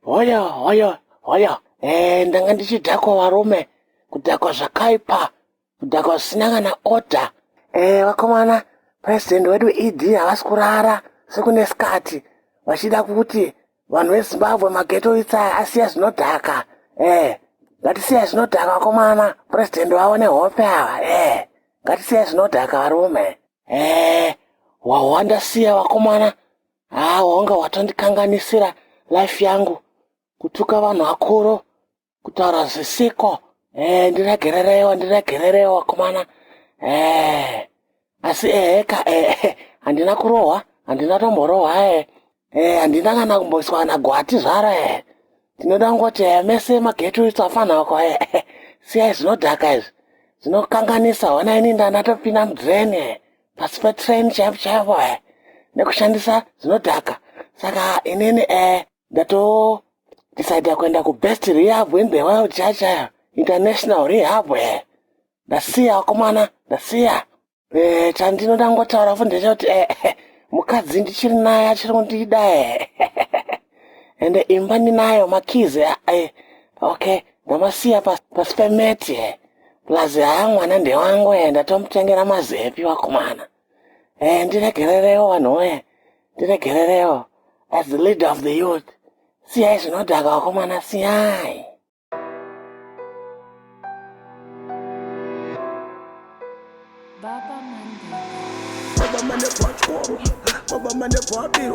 hoyo hoyo hoyo eh, ndanga ndichidhakwa varume kudhakwa zvakaipa kudhakwa zvisina kana order eh, vakomana president wedu ed havasi kurara sekune skati vachida kuti vanhu vezimbabwe mageto itsaya asiya zvinodhaka eh, ngatisiya zvinodhaka vakomana president vavo nehope ava eh, ngatisiya zvinodhaka varume eh, wahwanda siya vakomana haa wanga watondikanganisira life yangu kutuka vanhu vakuru kutaura zvisiko eh, ndiregererewa ndiregererewa kumana eh, asi eheka eh, handina kurohwa handina tomborohwa eh, eh, handina kana kumboiswa na gwati zvaro eh, tinoda kungoti eh, mese magetu isu afana wako eh, eh, siyai zvinodhaka izvi zvinokanganisa hona ini ndanatopinda mudreni eh. pasi petrain chaipo chaipo e eh, nekushandisa zvinodhaka saka inini e eh, ndato decide kuenda kubest rehab in the world chachaya international rehab e eh. ndasiya wakomana ndasiya e chandinoda ngotaura fu ndechekuti e mukadzi ndichiri naye achiri kundida e ende imba ndinayo makizi e okay ndamasiya pasi pemeti e plus haa mwana ndewangu e ndatomutengera mazepi wakomana e ndiregererewo vanhu woye ndiregererewo as the leader of the youth siyai zvinodhaka wakomana siyai Baba mane kwachoro, baba mane kwabiro